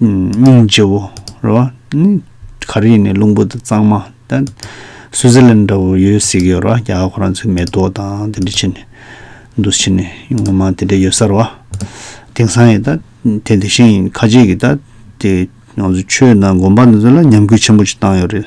སྙིང་རྗེ་བོ། རེད་བ། ནི། ག་རེ་ཡིན་ནའི་རླུང་བུ་དང་གཙང་མ། ད། སུའུ་ཟི་ལན་འདྲ་བོ་ཡོད་ཟེར་གི་ཡོད་རེད་བ། རྒྱ་གར་ཁོ་རང་ཚོའི་མེ་ཏོག་དང་དེ་འདྲ་བྱེད་ནས། འདུ་བྱེད་ནས། ངོ་མ་དེ་འདྲ་ཡོད་ས་རེད་བ། དེང་སང་ཡི། ད། དེ་དེ་བཞིན་ཡིན། ཁ་ཅིག་གིས་ད། དེ། ང་ཚོ་ཆོས་དང་དགོན་པ་འདི་ཚོ་ལ་ཉམས་རྒུད་ཆེན་པོ་ཅིག་བཏང་ཡོད་རེད།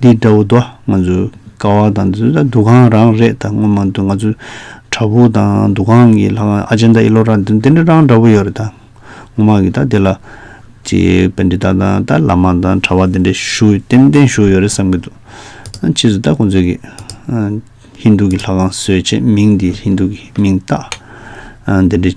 འདི་འདྲ་བོ་དོ་ང་ཚོའི་ཀ་བ་དང་འདི་ཚོ་འདུ་ཁང་རང་རེད་དང་སྔོན་མ་འདུ་ང་ཚོའི་བྲག་ཕུག་དང་འདུ་ཁང་གི་ལྷ་ཁང་ཨ་ཅན་དང་ཨི་ལོ་རང་འདི་འདྲ་རང་འདྲ་བོ་ཡོད་རེད་ད་སྔོན་མ་གི་ད་འདི་ལ་ཅི་བན་དེ་དག་དང་ད་བླ་མ་དང་གྲྭ་བ་འདི་འདྲ་བཞུགས་ཡོད་ཏན་ཏན་བཞུགས་ཡོད་རེད་བསམ་གྱི་འདུག་ཕྱིས་སུ་ད་ཁོང་ཚོས་གི་ཧིན་རྡུ་གི་ལྷ་ཁང་བཟོས་རྗེས་མིང་འདི་ཧིན་རྡུ་གི་མིང་བཏགས་འདི་འདྲ།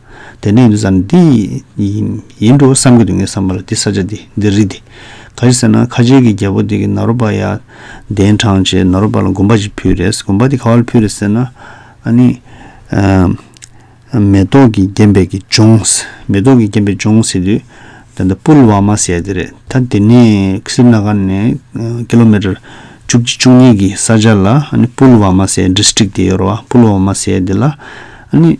དེ་ནས་འདི་ཙམ་འདི་ཡིན་འགྲོ་བསམ་གྱི་འདུག་ངས་བསམ་པ་ལ་འདི་ས་ཆ་འདི་འདི་རི་འདི། ག་རེ་ཟེར་ན་ཁ་ཆེའི་གི་རྒྱལ་པོ་དེ་གི་ནཱ་རོ་པ་ཡ། གདན་དྲངས་རྗེས་ནཱ་རོ་པ་ལ་དགོན་པ་ཞིག་ཕུལ་རེས་དགོན་པ་དེ་ག་བ་ལ་ཕུལ་རེས་ཟེར་ན། ཨ་ནི། མེ་ཏོག་གི་རྒྱན་པའི་གི་ལྗོངས་ཟེར་མེ་ཏོག་གི་རྒྱན་པའི་ལྗོངས་ཟེར་དུས། ད་ལྟ་པུལ་བ་མ་ཟེར་ཡ་དེ་རེད་ད་དེ་ནས་སི་རི་ན་གྷ་ནས kilometer བཅུ་གཅིག་བཅུ་གཉིས་གི་ས་ཆ་ལ་ཨ་ནི་པུལ་བ་མ་ཟེར district དེ་ཡོད་ར་བ་པུལ་བ་མ་ཟེར་ཡ་དེ་ལ་ཨ་ནི།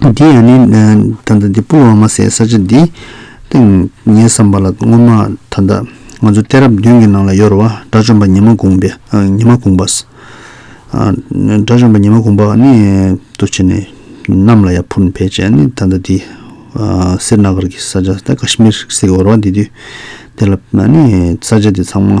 འདི་ཡང་ནི། ད་ལྟ་འདི་སྤུར་བ་མ་ཟད་ས་ཆ་འདི། ཏིང་ངེ་བསམ་པ་ལ་སྔོན་མ་ད་ལྟ། ང་ཚོ་གཏད་རབས་བདུན་གྱི་ནང་ལ་ཡོ་རོ་བ་དགྲ་བཅོམ་པ་ཉི་མ་གུང་པས། ཉི་མ་གུང་པས། དགྲ་བཅོམ་པ་ཉི་མ་གུང་པ་ནི། འདུ་བྱེད་ནི། རྣམས་ལ་ཡང་ཕུར་འཕེལ་བྱས་ནས་ད་ལྟ་འདི། སེར་ནག་གར་གྱི་ས་ཆ་ད་ཀ་ཤི་མིར་ཟེར་གྱི་ཡོ་རོ་བ་འདི་དུས། དེ་ལ་ནི་ས་ཆ་འདི་ཚང་མ།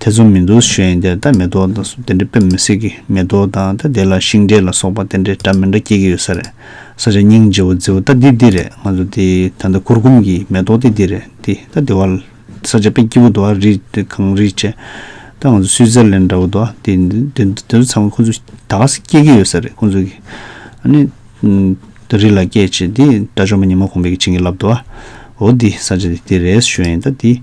དེ་ཚོ་མི་འདུག་ཞེས་ཡིན་དེར་ད་མེ་ཏོག་དང་སོགས་དེ་འདྲས་ཕེབས་མི་སྲིད་ཀི་མེ་ཏོག་དང་ད་དེ་ལ་ཤིང་འབྲས་ལ་སོགས་པ་དེ་འདྲས་འདྲ་མི་འདྲ་སྐྱེ་གི་ཡོད་ས་རེད་ས་ཆ་སྙིང་རྗེ་བོ་རྫི་བོ་ད་འདི་འདི་རེད་ང་ཚོ་འདི་ད་ད་གུར་གུམ་གི་མེ་ཏོག་འདི་འདི་རེད་འདི་ད་འདི་བ་ལ་ས་ཆ་དཔེ་སྐྱིད་བོ་འདུག་ཨ་རི་འདི་གངས་རི་བཅས་ད་ང་ཚོ་སུད་ཙེར་ལེན་འདྲ་བོ་འདུག་འདི་འདི་འདི་ཚོ་ཚང་མ་ཁོ་ཚོ་ད་ག་ས་སྐྱེ་གི་ཡོད་ས་རེད་ཁོ་ཚོ་གི་ཨ་ནི་ད་རི་ལ་སྐྱེ་བྱས་འདི་དགྲ་བཅོམ་པ་ཉི་མ་གོང་འཕེལ་གྱི་བྱིན་གྱིས་བརླབས་འདུག་ཨ་འོ་འདི་ས་ཆ་འདི་འདི་རེད་ཞོས་ཡིན་ད་འདི།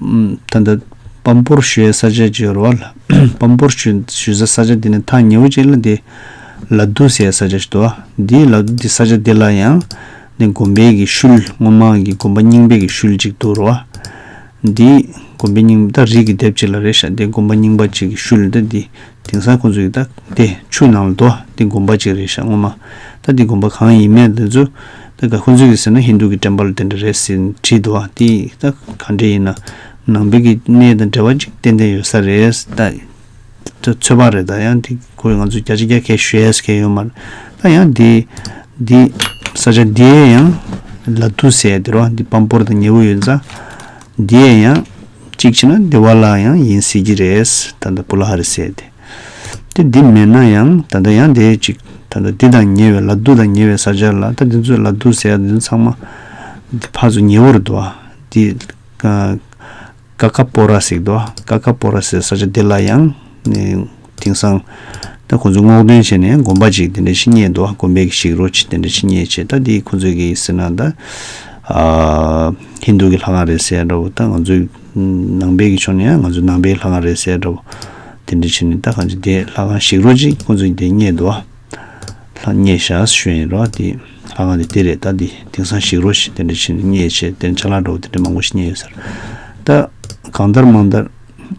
ད་ལྟ། བམ་པོར་ཞུ་ཡས་ས་ཆ་བཅས་རོ། བམ་པོར་ཞུ་ས་ས་ཆ་འདི་ནི་ཐང་ཉི་འོད་ཅན་ལ་དེ། ལ་དུ་ཟས་ས་ཆ་ཞིག་ཏུ། འདིའི་ལ་དུ་འདི་ས་ཆ་འདི་ལ་ཡང། ནི་འགོམ་པའི་གི་ཤུལ་སྔོ་མང་གི་འགོམ་པ་རྙིང་པའི་གི་ཤུལ་ཅིག་ཏུ་རོ། འདི། འགོམ་པའི་རྙིང་པ་ད་རིགས་ཀྱི་སྡེབ་ཅིག་ལ་རེ་ཤ་འདི་འགོམ་པ་རྙིང་པ་ཅིག་གི་ཤུལ་ད་འདི་དེང་སང་ཁོ་ཚོས་ཡི་དྭགས་དེ་ཆུ་ནང་ལ་འདོགས་ཏེ་སྒོམ་པ་ཅིག་རེད་ཤག་ངོ་མ་ད་འདི་སྒོམ་པ་གང་ཡིན་མེད་དེ་ཚོ་ད་ག་ཁོ་ཚོས་ཀྱི་ཟེར་ན་ཧིན་དུ་གི་བྲན་པ་ལ་དེ་འདྲ་རེད་ཟེར་བྲིས་འདུག་ཨ་དེ་ཡི་དྭགས་ག་འདྲ་ཡིན་ན་ནང་པའི་གི་གནས་དང་འབྲེལ་བ་ཅིག་ཏན་ཏན་ཡོད་ས་རེད་ད་ད་ཚོད་དཔག་རེད་ད་ཡང་དེ་ཁོ་ང་ཚོ་རྒྱ་ཆེ་རྒྱ་ཁའི་ཞུ་ཡས་ཁའི་ཡོད་མ་རེད་ད་ཡང་དེ་དེ་ས་ཆ་དེ་ཡང་ལ་དུ་ཟེར་དེ་རོ་འདི་སྤམ་པོར་དང་ཉེ་བོ་ཡོད་ས་དེ་ཡང། གཅིག་བྱས་ན་བདེ་བ་ལ་ཡང་ཡིན་སྲིད་ཀྱི་རེད། ད་ལྟ་བུ་ལ་ཧ་རེ་བསད་དེ། དེ་འདི་མེད་ན་ཡང་ད་ལྟ་ཡང་དེ་གཅིག། ད་ལྟ་འདི་དང་ཉེ་བའི་ལ་དུ་དང་ཉེ་བའི་ས་ཆར་ལ་ད་དེ་ཚོས་ལ་དུ་ཟེར་ཡག་འདི་ཚོ་ཚང་མ། འདི་ཕ་ཚོ་ཉེ་བོར་འདུག་ཨ། འདི། ཀ་ཀ་པོ་ར་ཟེག་འདུག་ཨ། ཀ་ཀ་པོ་ར་ཟེར་ས་ཆ་འདི་ལ་ཡང། དེང་སང། ད་ཁོང་ཚོས་སྔོག་འདོན་བྱས་ནས་དགོན་པ་ཅིག་དེ་འདྲ་ཕྱི་ཉེས་འདུག་དགོན་པའི་ཞིག་རོ་ཆེ་དེ་འདྲ་ཕྱི་ཉེས་ཆེ་ད་འདི་ཁོང་ཚོས་ཀྱི་ཟེར་ན་ད། ཧིན་དུ་ཀྱི་ལྷ་ཁང་རེད་ཟེར་ཡ་འདྲ་བོ་ད་ང་ཚོའི། ནང་པའི་ཀྱི་ཕྱོགས་ནས་ཡང་ང་ཚོའི་ནང་པའི་ལྷ་ཁང་རེད་ཟེར་ཡ་འདྲ་བོ། དེ་འདྲ་བྱས་ནས་ད་གང་ཅིག་དེ་ལྷ་ཁང་ཞིག་རོ་ཅིག་ཁོང་ཚོས་ཀྱི་དེ་ཉེས་འདུག་ཨ། ལྷ་ཉེས་ཞག་སེ་ཤོད་ཡིན་རོགས་དེ་ལྷ་ཁང་དེ་དེ་རེད་ད་འདི་དེང་སང་ཞིག་རོ་ཞིག་དེ་འདྲ་ཕྱི་ཉེས་ཆེ་དེ་འདྲ་ཆ་ལག་འདྲ་བོ་དེ་འདྲ་མང་པོ་ཕྱི་ཉེས་ཡོད་ཟེར། ད། གང་ལྟར་མང་ལྟར།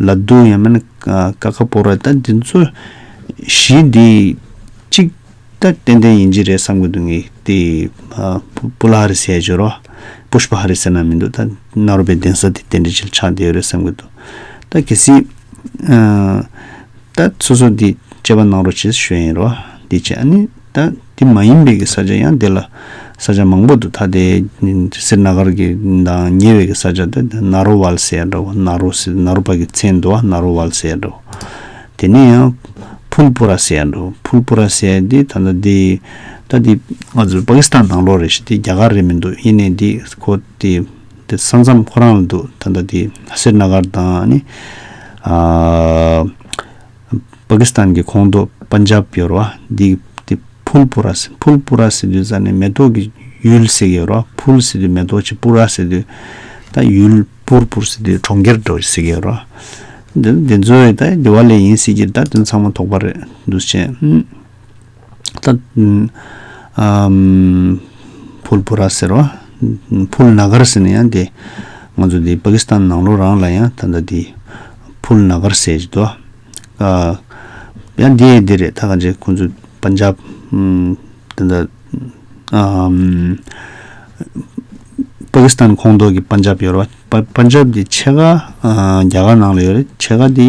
ལ་རྡུང་ཡང་མིན་ཀ་ཁ་པོ་རེད་ད་འདི་ཚོ་གཞི་འདི་གཅིག་ད་ཏན་ཏན་ཡིན་གྱི་རེད་བསམ་གི་འདུག་ངས་དེ་པུ་ལ་ཧ་རི་སི་ཡ་ཇོ་རོ Push པ་ཧ་རི་སི་ན་མི་འདུག་ད་གནའ་རོ་པའི་གདན་ས་དེ་དེ་འདྲ་ཅིག་ཆགས་བསྡད་ཡོད་རེད་བསམ་གི་འདུག་ད་གལ་སྲིད་ད་སོ་སོ་འདི་དཔྱད་པ་གནང་རོགས་བྱས་ཞུ་ཡིན་རོ་འདི་བྱས་ཨ་ནི། ད་དེ་མ་ཡིན་པའི་གི་ས་ཆ་ཡང་དེ་ལ་ས་ཆ་མང་པོ་འདུག་ད་དེ་སེར་ནག་གར་གི་དང་ཉེ་བའི་གི་ས་ཆ་དེ་ན་རོ་ཝལ་སེ་ཡ་འདྲ་བོ་ན་རོ་སེ་ན་རོ་པ་གི་ཚན་དུ་བ་ན་རོ་ཝལ་སེ་ཡ་འདྲ་བོ། དེ་ནས་ཡང་ཕུལ་པུ་ར་སེ་ཡ་འདྲ་བོ་ཕུལ་པུ་ར་སེ་ཡ་དེ་ད་ནི་དེ་ད་དེ་ང་ཚོ་པ་ཀི་སི་ཐན་ནང་ལོགས་རེད་ཤི་དེ་རྒྱ་གར་རེད་མི་འདུག་ཡིན་ནའི་དེ་ཁོ་དེ་དེ་ས་མཚམས་ཁོ་རང་ལ་འདུག་ད་ནི་དེ་སེར་ནག་གར་དང་ནི་ཨ། པ་ཀི་སི་ཐན་གྱི་ཁོངས་གཏོགས་པཱན་ཇཱབ་ཀྱི་རུ་བ་འདི་དེ་ཕུལ་པུ་ར་སི་ཕུལ་པུ་ར་སི་དུལ་ཙཱ་ནི་མེ་ཏོག་གི་ཡུལ་ཟེར་གྱི་རུ་བ་ཕུལ་སི་དུལ་མེ་ཏོག་ཆེ་པུ་ར་སི་དུལ་ད་ཡུལ་པུར་པུར་སི་དུལ་གྲོང་ཁྱེར་འགྲོ་ཟེར་གྱི་རུ་བ་འདི་ཚོའི་ད་དེ་བ་ལས་ཡིན་སྲིད་ཀྱི་ད་དོན་ཚང་མ་དོགས་པ་རེད་འདུག་བྱས། ཕུལ་བུ་ར་ཟེར་བ། ཕུལ་ན་གར་ཟེར་ནས་ཡང་དེ། ང་ཚོ་དེ་པ་ཀི་སི་ཐན་ནང་ལོགས་རང་ལ་ཡང་ད་ལྟ་དེ། ཕུལ་ན་གར་ཟེར་བཞིན་འདུག་ཨ། ཡང་དེ་ཡི་དེ་རེད་ད་ག་འདྲེ་ཁོང་ཚོ་པན་ཇབ། ད་ལྟ། པ་ཀི་སི་ཐན་ཁོངས་གཏོགས་ཀྱི་པན་ཇབ་ཡོད་རེད་བ། པན་ཇབ་དེ་ཕྱེད་ཀ་རྒྱ་གར་ནང་ལ་ཡོད་རེད་ཕྱེད་ཀ་དེ།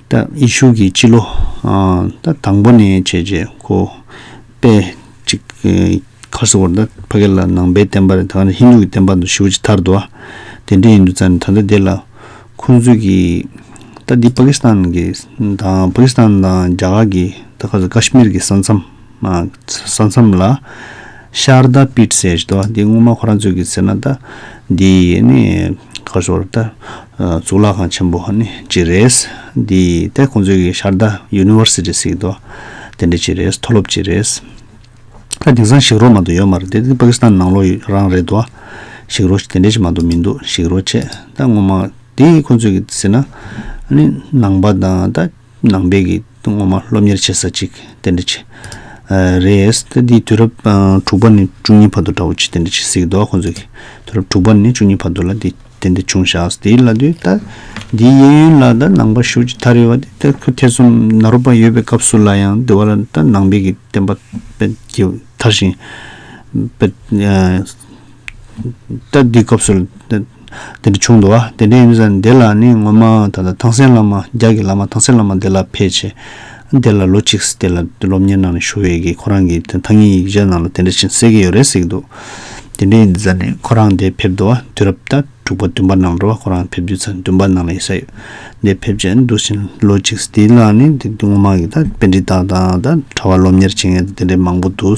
ད་ཡེ་ཤུ་གིས་སྤྱི་ལོ་ད་དང་པོ་ནས་བྱས་རྗེས་ཁོ་པས་ཅིག་ཁ་སི་ཝར་ད་ཕ་གེ་ལ་ནང་པའི་བསྟན་པ་རེད་ད་ག་ནས་ཧིན་དུ་གི་བསྟན་པ་དང་ཤི་བོ་ཅི་ཐར་དུ་ཨ་དེ་འདྲས་ཡིན་དུ་ཙང་ནས་ད་ད་དེ་ལ་ཁོང་ཚོས་གིས་ད་འདི་པ་ཀི་སི་ཐན་གི་དང་པ་ཀི་སི་ཐན་དང་རྒྱ་གར་གི་ད་ཁ་སི་ཀ་ཤི་མིར་གི་ས་མཚམས། ས་མཚམས་ལ། ཤར་ད་པིད་སེ་ཞེས་དང། འདི་སྔོན་མ་ཁོ་རང་ཚོས་ཀྱི་ཟེར་ན་ད། འདི་ཡིས་ནི། ཁ་ཤོར་ད། གཙུག་ལག་ཁང་ཆེན་པོ་ནི་ཅི་རེད། འདི་ཡིས་ད་ཁོང་ཚོས་ཀྱི་ཤར་ད University ཟེར་གྱི་འདུག་དེ་འདྲ་ཅི་རེད་མཐོ་སློབ་ཅི་རེད། ད་དེང་སང་ཞིག་རོ་མ་འདུག་ཡོད་མ་རེད་དེ་པ་ཀི་སི་ཐན་ནང་ལོག་ཡོད་རང་རེད་དོ། ཞིག་རོ་དེ་འདྲ་ཅི་མ་འདུག་མི་འདུག་ཞིག་རོ་བྱས་ད་སྔོན་མ། འདི་ཁོང་ཚོས་ཀྱི་ཟེར་ན། ནི་ནང་པ་དང་ད། ནང་པའི་གི་སྔོན་མ་སློབ་གཉེར་བྱེད་ས་ཅིག་དེ་འདྲ་ཅིག་རེད། ད་འདི་དུས་རབས་དྲུག་པ་ནས་བཅུ་གཉིས་བར་དུ་འདྲ་བོ་ཅིག་དེ་འདྲ་ཅིག་གཟིགས་འདུག་ཁོ་ཚོས་གི་དུས་རབས་དྲུག་པ་ནས་བཅུ་གཉིས་བར་དུ་ལ་འདི་དེ་འདྲ་བྱུང་ཞག་ཟེར་དེའི་ལ་དུས་ད་འདིའི་གཡས་གཡོན་ལ་ད་ནང་པ་ཞུགས་ཀྱི་ད་རེ་བ་དེ་ད་ཁོས་ཐེ་ཚོམ་ན་རོ་པ་ཡོད་པའི་སྐབས་སུ་ལ་ཡང་འདི་བ་ལ་ད་ནང་པའི་གི་བསྟན་པ་པད་ཀྱི་དར་ཞིང་པད་སྟབས་འདིའི་སྐབས་སུ་དེ་འདྲ་བྱུང་འདུག་ཨ། དེ་འདྲ་ཡིན་ས་དེ་ལ་ནི་ངོ་མ་ད་ལྟ་ཐང་སན་བླ་མ་རྒྱ་གི་བླ་མ་ཐང་སན་བླ་མ་དེ་ལ་ཕེ་ཆེ། དེ་ལ་ལོ་གཅིག་དེ་ལ་སློབ་གཉེར་གནང་ནས་ཞུ་བས་ཀྱི་ཁོ་རང་གི་ཐང་སྙིང་ཡིག་ཆ་ནང་ལ་དེ་འདྲ་བྱིན་གསལ་གྱི་ཡོད་རེད་ཟེར་གྱི་འདུག་དེ་འདྲ་ཡིན་ས་ནི་ཁོ་རང་དེ་ཕེབས་འདུག་ཨ་དུས་རབས་ད་དྲུག་པ་བདུན་པ་ནང་འགྲོ་ཁོ་རང་ཕེབས་དུས་ཚ་བདུན་པ་ནང་ལ་ཡིན་ས་ཡོད་དེ་ཕེབས་ཆེད་འདུག་བཞིན་ལོ་གཅིག་དེ་ལ་ནི་དེ་ངོ་མ་གི་ད་དཔེ་འདྲི་སྟངས་དང་ད་གྲྭ་བ་སློབ་གཉེར་བྱེད་མཁན་དེ་འདྲ་མང་པོ་འདུག།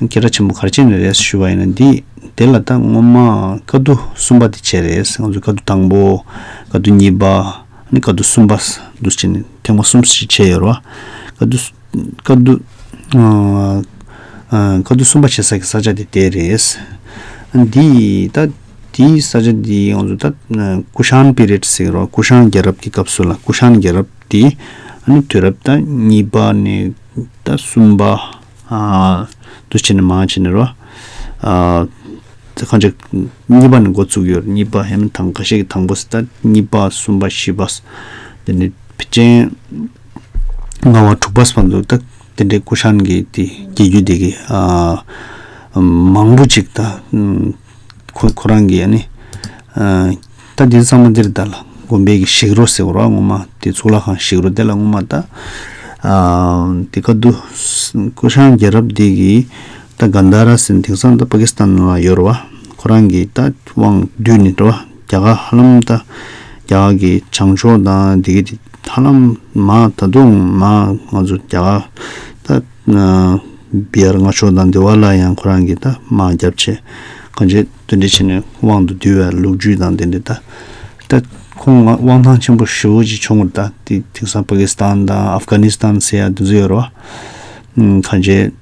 སྐད་གྲགས་ཆེན་པོ་གར་བྱས་ནས་རེད་ཞུ་བ་ཡིན་ན་འདི་དེ་ལ་ད་སྔོན་མ་དཀའ་བསྡུ་གསུམ་པ་དེ་བྱས་རེད་ང་ཚོས་དཀའ་བསྡུ་དང་པོ་དཀའ་བསྡུ་གཉིས་པ་ནི་དཀའ་བསྡུ་གསུམ་པ་བསྡུ་བྱས་ནས་ཐེངས་པ་གསུམ་ཞིག་བྱས་ཡོད་རེད་བ། དཀའ་བསྡུ་དཀའ་བསྡུ་གསུམ་པ་བྱེད་ས་ཀྱི་ས་ཆ་དེ་དེ་རེད། འདི་ད་འདི་ས་ཆ་འདི་ང་ཚོ་ད་ཀུ་ཤང་པི་རེད་ཟེར་རོགས་ཀུ་ཤང་རྒྱལ་རབས་ཀྱི་སྐབས་སུ་ལ་ཀུ་ཤང་རྒྱལ་རབས་དེ་ནི་དུས་རབས་ད་གཉིས་པ་ནས་ད་གསུམ་པ། འདུ་བྱེད་ནི་མང་བྱེད་ནི་རོ། གང་ཅིག། གཉིས་པ་ནི་འགོ་ཚུགས་ཡོད་གཉིས་པ་ཧེ་མ་དང་ག་ཤེད་ཀྱི་དང་པོ་སི་ཏཱ་གཉིས་པ་གསུམ་པ་བཞི་པ། དེ་ནི་བི་ཅན། ལྔ་བ་དྲུག་པ་སི་པ་འདུག་ད་དེ་འདྲའི་ཀུ་ཤཱན་གྱི་དེ་རྒྱལ་རྒྱུད་སྡེ་དགེ། མང་པོ་ཅིག་དང། ཁོ་ཁོ་རང་གིས་ནི། ད་འདི་གཙང་མ་འདིར་བལྟ། དགོན་པའི་གི་ཞིག་རོ་ཟེར་བ་རང་ངོ་མ་དེ་གཙུག་ལག་ཁང་ཞིག་རོ་དེ་ལ་ངོ་མ་བལྟ། དེ་ག་དུ། ཀུ་ཤང་རྒྱལ་རབས་འདི་གི་ད་གཱན་དྷ་ར་སིན་དེང་སང་ད་པ་ཀི་སི་ཐན་ལ་ཡོད་རོ་བ། ཁོ་རང་གིས་ད་དབང་བསྡུས་ནི་རོ་བ་རྒྱ་གར་ཧ་ལམ་ད་རྒྱ་གར་གི་བྱང་ཕྱོགས་དང་དེ་གི་དེ་ཧ་ལམ་མ་ད་དུང་མ་ང་ཚོ་རྒྱ་གར་ད། ང། བེར་ང་ཕྱོགས་དང་འདི་བ་ལ་ཡང་ཁོ་རང་གིས་ད་མང་རྒྱབ་བྱས། གང་བྱས་དོན་འདི་བྱས་ནས་དབང་དུ་འདུས་བའི་ལུགས་རྒྱུད་དང་དེ་འདི་ད། ད་ཁོང་ང་དབང་ཐང་ཆེན་པོ་ཧྲིལ་བོ་ཅིག་ཕྱོགས་ངོར་ད་དེ་དེང་སང་པ་ཀི་སི་ཐན་དང་ཨབ་གྷ་ནི་སི་ཐན་ཟེར་ཡ་དེ་ཚོ་ཡོད་རེད་བ། གང་བྱས་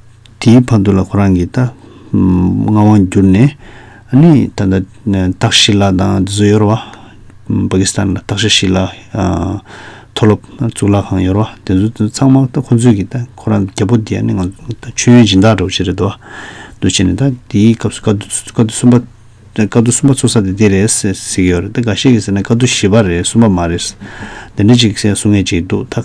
དེའི་བར་དུ་ལ་ཁོ་རང་གིས་ད། མངའ་དབང་བསྒྱུར་ནས། ནི་ད་ལྟ་རྟགས་ཤི་ལ་དང་རྫུ་བཟོ་ཡོར་བ། པ་ཀི་སི་ཐན་ལ་རྟགས་ཤི་ཤི་ལ། མཐོ་སློབ་གཙུག་ལག་ཁང་ཡོར་བ་དེ་ཚོ་དེ་ཚང་མ་ཁོ་ཚོས་ཀྱི་ད་ཁོ་རང་རྒྱལ་པོ་དེ་ནི་ང་མཆོད་ཡོན་སྦྱིན་བདག་འདྲ་བོ་ཆེ་རེད་དོ། འདུ་བྱེད་ནི་ད་དེའི་སྐབས་སུ་ཀ་ཏུ་ཀ་ཏུ་གསུམ་པ། ཀ་ཏུ་གསུམ་པ་ཚོ་ས་དེ་དེ་རེད་ཟེར་གྱི་ཡོར་རེད་ད་ག་ཤེད་ཀྱི་ཟེར་ན་ཀ་ཏུ་བཞི་པ་རེད་གསུམ་པ་མ་རེད། འདི་འདྲ་ཅིག་གསུང་ངེས་ཅིག་འདུག་ད།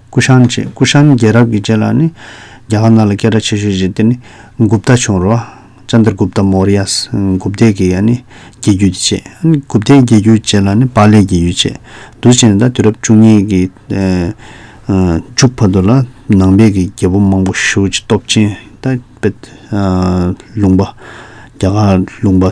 ཀུ་ཤཱན་བཅས་ཀུ་ཤཱན་རྒྱལ་རབས་ཀྱི་རྗེས་ལ་ནི། རྒྱ་གར་ནང་ལ་སྐད་གྲགས་ཆེ་ཤོས་ཤིག་དེ་ནི Gupta བྱུང་རོ། Chandragupta Mauryas། Gupta གི་ཡང་ནི་རྒྱལ་རྒྱུད་བཅས། Gupta རྒྱལ་རྒྱུད་བཅས་ལ་ནི Pali རྒྱལ་རྒྱུད་བཅས། དུ་བྱས་ནས་ད་དུས་རབས་བཅུ་གཉིས་ཀྱི་མཇུག་བར་དུ་ལ་ནང་པའི་གི་རྒྱལ་པོ་མང་པོ་ཤུལ་བུ་ཅི་སྟོབས་ཅན Tibet། ལུང་པ། རྒྱ་གར་ལུང་པ།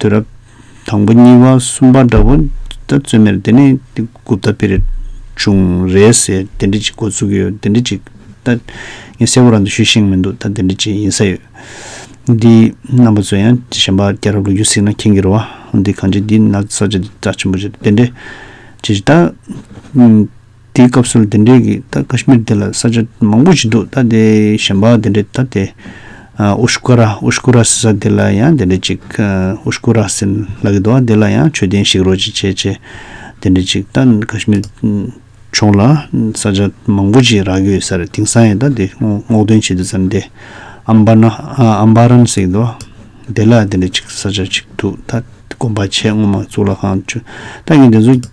དུས་རབས་དང་པོ་གཉིས་པ་གསུམ་པ་འདྲ་པོ་ད་བཙོན་མེར་དེ་ནས་དེ་གུབ་ད་པིར་བྱུང་རེད་ཟེར་དེ་འདྲི་གཅིག་འགོ་བཙུགས་ཡོད་དེ་འདྲི་གཅིག་ད་ངས་གསལ་བོ་རང་དུ་ཞུས་ཤིང་མི་འདུག་ད་དེ་འདྲི་གཅིག་ཡིན་ས་ཡོད་འདི་རྣམ་པ་ཚོ་ཡང་གཞན་པ་སྐྱ་ར་ལུག་ཁྱུ་ཟིག་ན་ཁྱེན་གི་རོ་བ་འདི་གང་བྱེད་འདི་ན་ས་ཆ་འདི་དྲག་ཆེན་པོ་བྱེད་དེ་འདྲི་གཅིག་ད། དེའི་སྐབས་སུ་དེ་འདྲས་ཀྱི་ད་ཀ་ཤི་མིར་དེ་ལ་ས་ཆ་མང་པོ་ཞིག་འདུག་ད་དེ་གཞན་པ་དེ་འདྲས་ད་དེ། ཨུ་ཤུ་ཀ་ར་ཨུ་ཤུ་ཀུ་ར་ཟེར་ས་དེ་ལ་ཡང་དེ་འདྲས་ཅིག་ཨུ་ཤུ་ཀུ་ར་ཟེར་ལག་གི་འདུག་ཨ་དེ་ལ་ཡང་མཆོད་རྟེན་ཞིག་རོགས་ཅིག་བྱེད་ཅེས་དེ་འདྲས་ཅིག་ད་ཀ་ཤི་མིར་ཕྱོགས་ལ་ས་ཆ་མང་པོ་ཞིག་རག་གི་ཡོད་ས་རེད་དེང་སང་ཡང་ད་དེ་སྔོག་འདོན་བྱེད་དུ་ས་འདི་ཨམ་བྷ་ན་ཨམ་བྷ་རན་ཟེར་གི་འདུག་དེ་ལ་དེ་འདྲས་ཅིག་ས་ཆ་ཅིག་འདུག་ད་དགོན་པ་ཆེས་སྔོན་མ་གཙུག་ལག་ཁང་ཆུ་རྟ་ཡིན་དེ་ཚོ།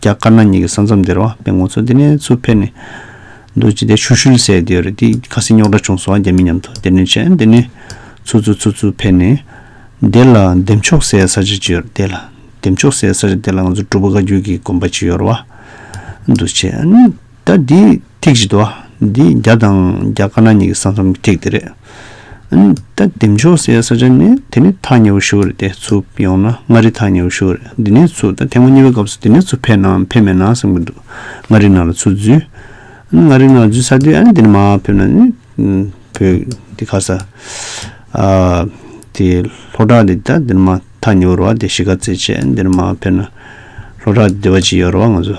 རྒྱ་དཀར་ནག་གཉིས་ཀྱི་ས་མཚམས་དེར་བ་དཔེ་ངོ་ཚོ་འདི་ནས་ཚུར་ཕེབས་ནས་འདུག་ཅི་སྟེ་ཤུལ་ཤུལ་ཟས་འདི་ཡོད་རེད་དེ་ཁ་སེང་རྙོག་དྲ་བྱུང་སོང་རྒྱ་མི་མཉམ་དུ་དེར་ནས་བྱས་འདི་ནས་ཚུར་ཚུར་ཚུར་ཚུར་ཕེབས་ནས་དེ་ལ་འདེམས་ཆོག་སའི་ས་ཆ་ཅི་ཡོད་དེ་ལ་འདེམས་ཆོག་སའི་ས་ཆ་དེ་ལ་ང་ཚོ་སྒྲུབ་པ་བཀའ་བརྒྱུད་ཀྱི་དགོན་པ་ཅི་ཡོད་ར་བ་འདུག་བྱས། ད་འདི་ཐིག་གཅིག་ཏུ། འདི་བརྒྱ་དང་བརྒྱ་དཀར་ནག་གཉིས་ཀྱི་ས་མཚམས་ཀྱི་ཐིག་དེ་རེད། ད་འདི་མཆོག་སའི་ས་ཆ་ནི་དེ་ནི་ཐག་ཉེ་བོ་ཞུགས་རེད་དེ་ཚུ་ཡོང་ན་མངའ་རིས་ཐག་ཉེ་བོ་ཞུགས་རེད་འདི་ནས་ཚུ་ད་ཐེངས་མ་གཉིས་པའི་སྐབས་སུ་འདི་ནས་ཚུ་ཕེབས་ནའམ་ཕེབས་མེད་ན་བསམ་གྱི་འདུག་མངའ་རིས་ནང་ལ་ཚུ་འཛུལ། མངའ་རིས་ནང་ལ་འཛུལ་ཚར་དུས་འདི་ནས་མ་ཕེབས་ན་ནི་བོད་འདི་ཁ་ས་དེ་ལྷོ་བྲག་འདི་ད་འདི་ནས་མ་ཐག་ཉེ་བོ་རུ་བ་དེ་གཞིས་ཀ་རྩེ་བཅས་འདི་ནས་མ་ཕེབས་ན་ལྷོ་བྲག་འདི་བ་ཅི་ཡོད་རུ་བ་ང་ཚོ།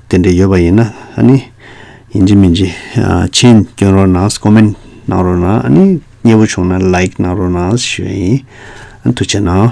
དེ་འདྲ་ཡོད་པ་ཡིན་ན་ཨ་ནི་ཡིན་གྱི་མིན་གྱི་མཆན་བསྐྱོན་རོགས་གནང Comment གནང་རོགས་གནང་ཨ་ནི་སྙན་པོ་བྱུང་ན Like གནང་རོགས་གནང་ཞེས་ཨ་ནི་ཐུགས་ཆེ་གནང།